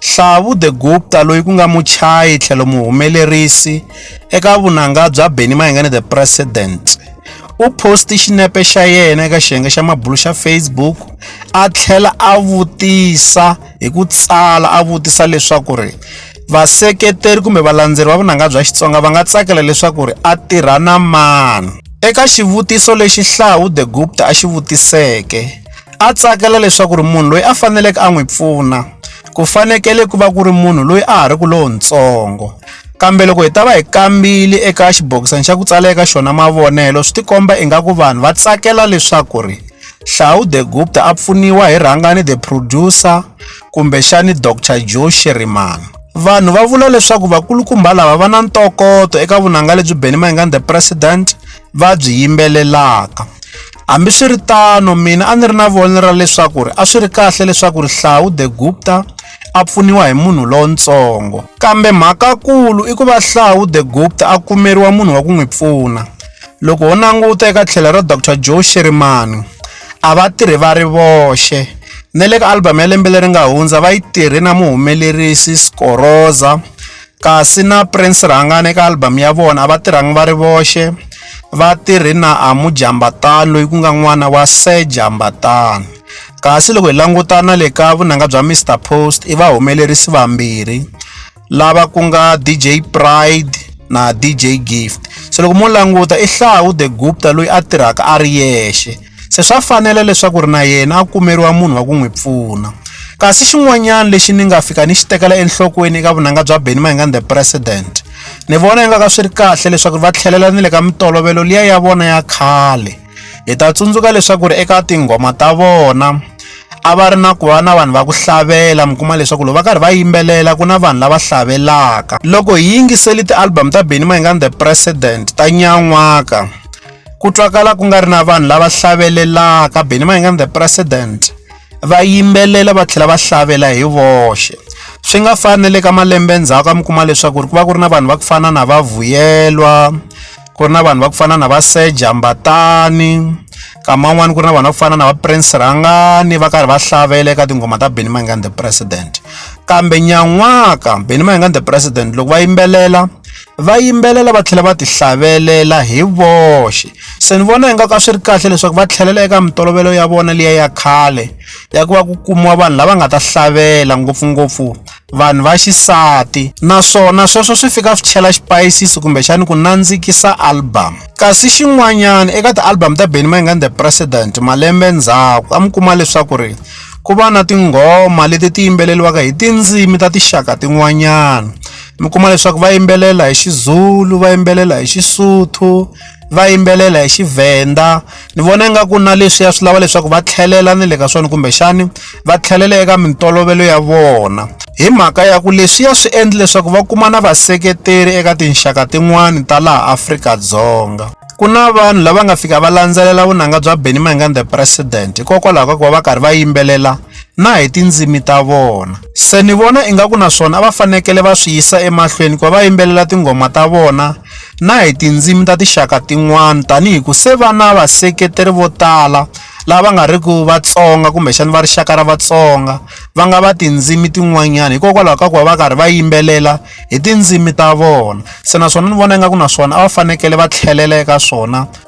Hlavu de Gupta loyi ku nga muchayi tlhelo muhumelerisi eka vunanga bya Benny Mayengani The President u posti xinepe xa yena eka xiyenge xa mabulu xa Facebook a tlhela a vutisa hi ku tsala a vutisa leswaku ri vaseketeri kumbe valandzeri va vunanga bya Xitsonga va nga tsakela leswaku ri a tirha na mani eka xivutiso lexi Hlawu de Gupta a xi vutiseke. a tsakela leswaku ri munhu loyi a faneleke a n'wi pfuna ku fanekele ku va ku ri munhu loyi a ha ri ku lowutsongo kambe loko hi ta va hi kambile eka xibokisana xa ku tsala eka xona mavonelo swi tikomba ingaku vanhu va tsakela leswaku ri hlawu the gupta a pfuniwa hi rhangani the producer kumbexani dr joe sherimani vanhu va vula leswaku vakulukumba lava va na ntokoto eka vunanga lebyi benny mayengani the president va byi yimbelelaka Hambiswiritano, mina a ni ri na vonelo ra leswaku a swi ri kahle leswaku Rihlawu de Gupta a pfuniwa hi munhu lontsongo. Kambe mhakakulu i ku va Hlawu de Gupta a kumeriwa munhu wa ku n'wi pfuna. Loko ho languta eka tlhelo ra Doctor Joe Shirimani, a va tirhi va ri voxe. Na le ka album ya lembe leri nga hundza va yi tirhe na muhumelerisi Skoroza. Kasi na Prince Rhangane eka album ya vona a va tirhangi va ri voxe va tirhe na Amu Jambatani loyi ku nga n'wana wa Sir Jambatani kasi loko hi langutana le ka vunanga bya Mr Post i va humelerisi vambirhi lava ku nga DJ Pride na DJ Gift se loko mo languta i Hlahu the Gupta loyi a tirhaka a ri yexe se swa fanela leswaku ri na yena a kumeriwa munhu wa ku n'wi pfuna kasi xin'wanyana lexi ni nga fika ni xi tekela enhlokweni eka vunanga bya beni mahingani the president ni vona ingaku a swi ri kahle leswaku va tlhelela ni le ka mitolovelo liya ya vona ya khale hi ta tsundzuka leswaku ri eka tinghoma ta vona a va ri na ku va na vanhu va ku hlavelela mi kuma leswaku loko va karhi va yimbelela ku na vanhu lava hlavelaka loko hi yingiseli ti-album ta benny mayingani the president ta nyan'waka Ku twakala ku nga ri na vanhu lava hlavelelaka Benny Mayengani the president va yimbelela va tlhela va hlavelela hi voxe swi nga fani le ka malembe ndzhaku a mi kuma leswaku ku va ku ri na vanhu va ku fana na va Vuyelwa ku ri na vanhu va ku fana na va Sir Jambatani nkama wun'wani ku ri na vanhu va ku fana na va Prince Rhangani va karhi va hlavelela eka tinghoma ta Benny Mayengani the president kambe nyan'waka Benny Mayengani the president loko va yimbelela. va yimbelela va tlhela va ti hlavelela hi voxe se ni vona ingaku a swi ri kahle leswaku va tlhelela eka mintolovelo ya vona liya ya khale ya ku va ku kumiwa vanhu lava nga ta hlavelela ngopfungopfu vanhu va xisati naswona sweswo swi fika swi chela xipayisisi kumbexani ku nandzikisa album kasi xin'wanyana eka ti-album ta benny mayingani the president malembe ndzhaku a mi kuma leswaku ri ku va na tinghoma leti ti yimbeleriwaka hi tindzimi ta tinxaka tin'wanyana mi kuma leswaku va yimbelela hi Xizulu va yimbelela hi Xisotho va yimbelela hi Xivhenda ni vona ingaku na leswiya swi lava leswaku va tlhelela ni le ka swona kumbexani va tlhelela eka mintolovelo ya vona hi mhaka ya ku leswiya swi endla leswaku va kuma na vaseketeri eka tinxaka tin'wani ta laha Afrika-Dzonga ku na vanhu lava nga fika va landzelela vunanga bya Benny Mayengani the president hikokwalaho ka ku va va karhi va yimbelela na hi tindzimi ta vona. Se ni vona ingaku na swona a va fanekele va swi yisa emahlweni ku va va yimbelela tinghoma ta vona na hi tindzimi ta tinxaka tin'wana tanihi ku se va na vaseketeri vo tala lava va nga ri ku Vatsonga kumbexana va rixaka ra Vatsonga va nga va tindzimi tin'wanyana hikokwalaho ka ku va va karhi va yimbelela hi tindzimi ta vona se naswona ni vona ingaku na swona a va fanekele va tlhelela eka swona.